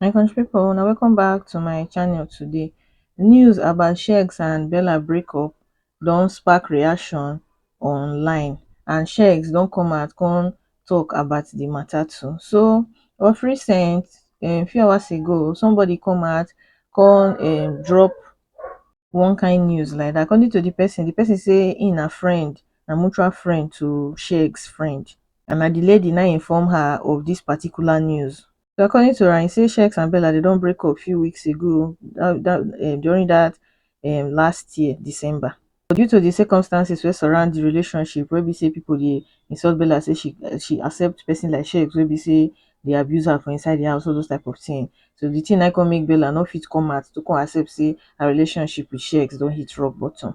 my country people una welcome back to my channel today news about shegs and bella breakup don spark reaction online and shegs don come out come talk about the matter too so of recent a few hours ago somebody come out come um drop one kind news like dat according to di pesin, di pesin sey im na friend, na mutual friend to Shexx friend and na di lady na inform her of dis particular news. So according to am, e sey Shexx and Bella de don break up few weeks ago during dat um last year December. but due to di circumstances wey surround di relationship wey be say pipo dey insult bella say she she accept pesin like sheikh wey be say dey abuse her for inside di house all those type of tin so di tin naim come make bella no fit come out to come accept say her relationship with sheikh don hit rock bottom.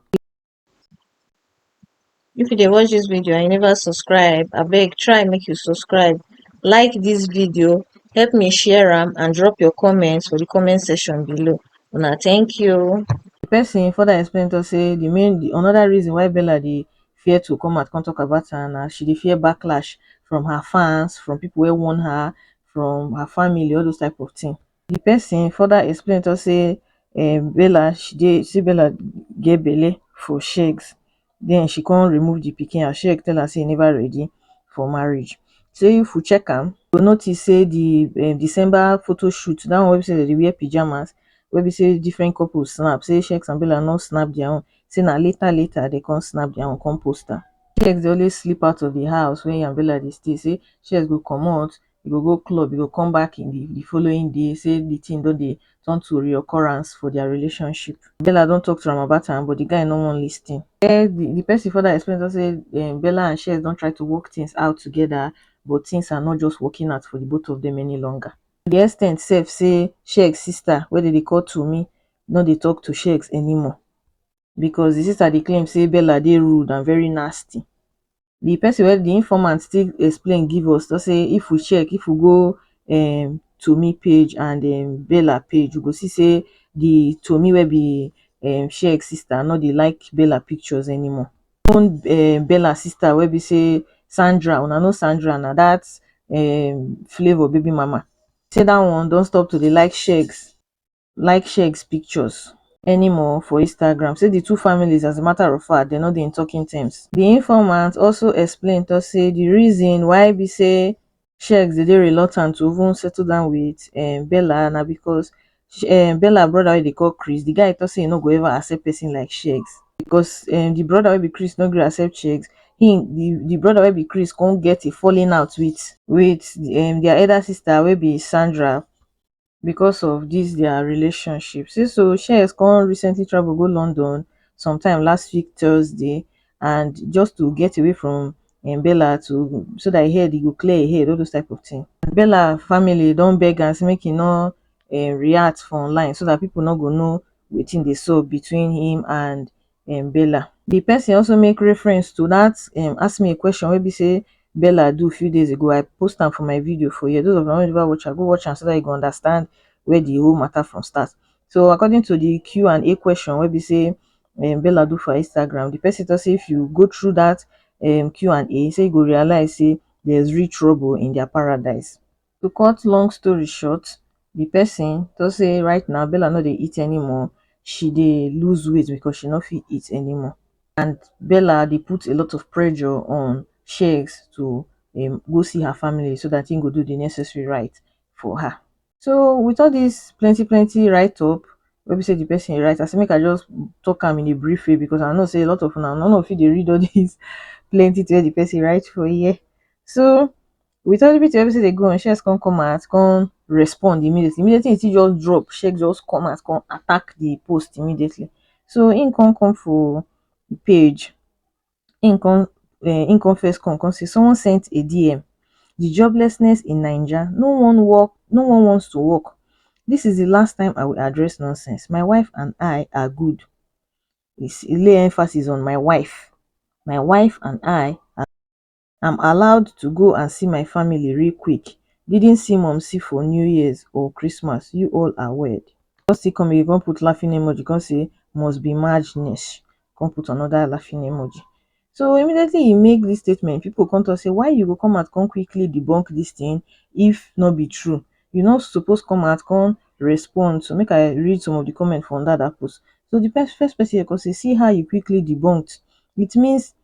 If you dey watch dis video and you never subscribe abeg try make you subscribe like dis video help me share am and drop your comment for di comment section below una thank you. Di pesin further explain tok say di main di anoda reason why Bella dey fear to come out come tok about am na she dey fear backlash from her fans, from pipo wey warn her, from her family all those type of tin. Di pesin further explain tok say um Bella she dey say Bella get belle for shegz. den she kon remove di pikin as shege tell am sey e neva ready for marriage. Sey if we check am, we go notice sey di December photo shoot, dat one wey be sey den dey wear pyjamas, wey be sey differen couple snap, sey Sheikes and Bella nor snap dia own, sey na later later den kon snap dia own kon post am. Sheikes dey always sleep out of di house wey e and Bella dey stay, sey Sheikes go comot, e go go club e go come back in di di following day say di tin don dey turn to reoccurrence for dia relationship bella don tok to am about am but di guy no wan listin um di pesin further explain tok say um bella and shez don try to work tins out togeda but tins are not just working out for di both of dem any longer to di ex ten t sef say shez sister wey dem dey call tunmi no dey tok to shez anymore becos di sister dey claim say bella dey rude and very nasty di person wey di informant still explain give us talk say if we check if we go um tomi page and um bella page we go see say di tomi wey be um sheg sister no dey like bella pictures anymore even um bella sister wey be say Sandra una know Sandra na dat um flavor baby mama say dat one don stop to dey like shegs like share x pictures anymore for instagram say di two families as a matter of fact dem no dey in talking terms di informant also explain tok say di reason why be say shexx dey dey reluctant to even settle down wit um bella na becos um bella broda wey dem dey call chris di guy tok say e no go ever accept pesin like shexx becos um di broda wey be chris no gree accept shexx im di di broda wey be chris come get a falling out wit wit um dia elder sister wey be sandra because of this their relationship say so shears come recently travel go london sometime last week thursday and just to get away from um bella to so that e head e go clear e head all those type of thing and bella family don beg am say make e no um react for online so that people no go know wetin dey sup between him and um bella the person also make reference to that um ask me a question wey be say bella do few days ago i post am for my video for here those of una wey never watch am go watch am so that you go understand where the whole matter from start so according to the q and a question wey be say um bella do for instagram the person talk say if you go through that um q and a say you go realize say there's real trouble in their paradise To cut long story short, the person talk say right now Bella no dey eat anymore, she dey lose weight because she no fit eat anymore and Bella dey put a lot of pressure on Shegs to um go see her family so that he go do the necessary right for her. So with all this plenty plenty write up wey be say the person write, I say make I just talk am in a brief way because I know say a lot of una no no fit dey read all this plenty thing wey the person write for here. So with everything wey be sey dey go on sharks come come out come respond immediately, immediately e still just drop shark just come out come attack the post immediately so him come come for the page him come um him come first come come say someone sent a DM the joblessness in naija no one work no one wants to work this is the last time I will address nonsense my wife and I are good he lay emphasis on my wife, my wife and I are. am allowed to go and see my family real quick didn't see mumsy for new years or christmas you all are weird come still come again come put laughing emoji come say must be madness come put another laughing emoji so immediately he make this statement people come talk say why you go come out come quickly debunk this thing if not be true you not suppose come out come respond so make i read some of the comment from that that post so the first person come say see how you quickly debunked it means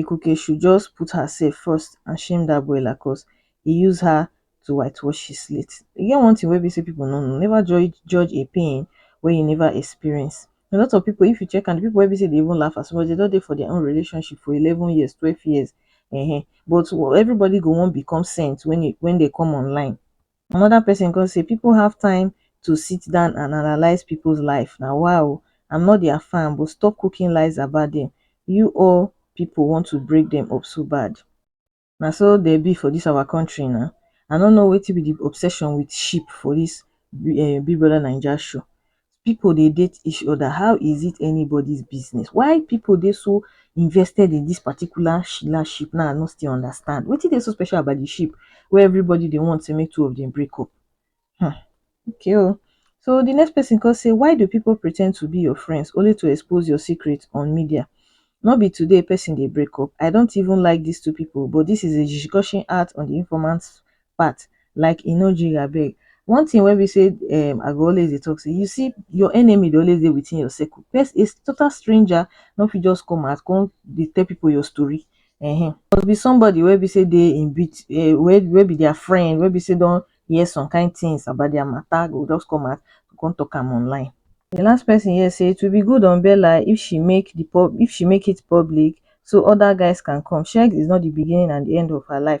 Ikukeshu just put herself first and shame that boy Lacos. He use her to whitewash his slate. E get one thing wey be say people no know, never judge judge a pain wey you never experience. A lot of people, if you check am, the people wey be say dey even laugh as much, they don dey for their own relationship for eleven years, twelve years, um but everybody go wan become saint when e when they come online. Another person come say people have time to sit down and analyse people's life na wa o I'm not their fan but stop cooking lies about them you all people want to break them up so bad na so they be for this our country na I no know wetin be the obsession with sheep for this um Big Brother Naija show people dey date each other how is it anybody's business why people dey so invested in this particular Sheila ship now I no still understand wetin dey so special about the ship wey everybody dey want say make two of them break up hmm okay o so the next person come say why do people pretend to be your friends only to expose your secret on media no be today person dey break up I don't even like this two people but this is a discussion out on the informant part like e no jiri abeg one thing wey be say um I go always dey talk say you see your enemy dey always dey within your circle pers a total stranger no fit just come out come dey tell people your story um must be somebody wey be say dey in bit um wey be their friend wey be say don hear some kind things about their matter go just come out come talk am online. The last person here say it will be good on Bella if she make the pub if she make it public so other guys can come Sheggz is not the beginning and the end of her life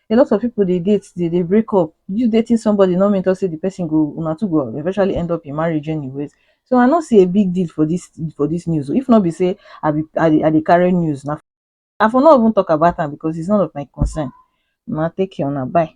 a lot of people dey date dey dey break up you dating somebody no mean talk say the person go una two go eventually end up in marriage anyways so i no see a big deal for this for this news if no be say i be i dey i dey carry news na i for no even talk about am because it's none of my concern una take care una bye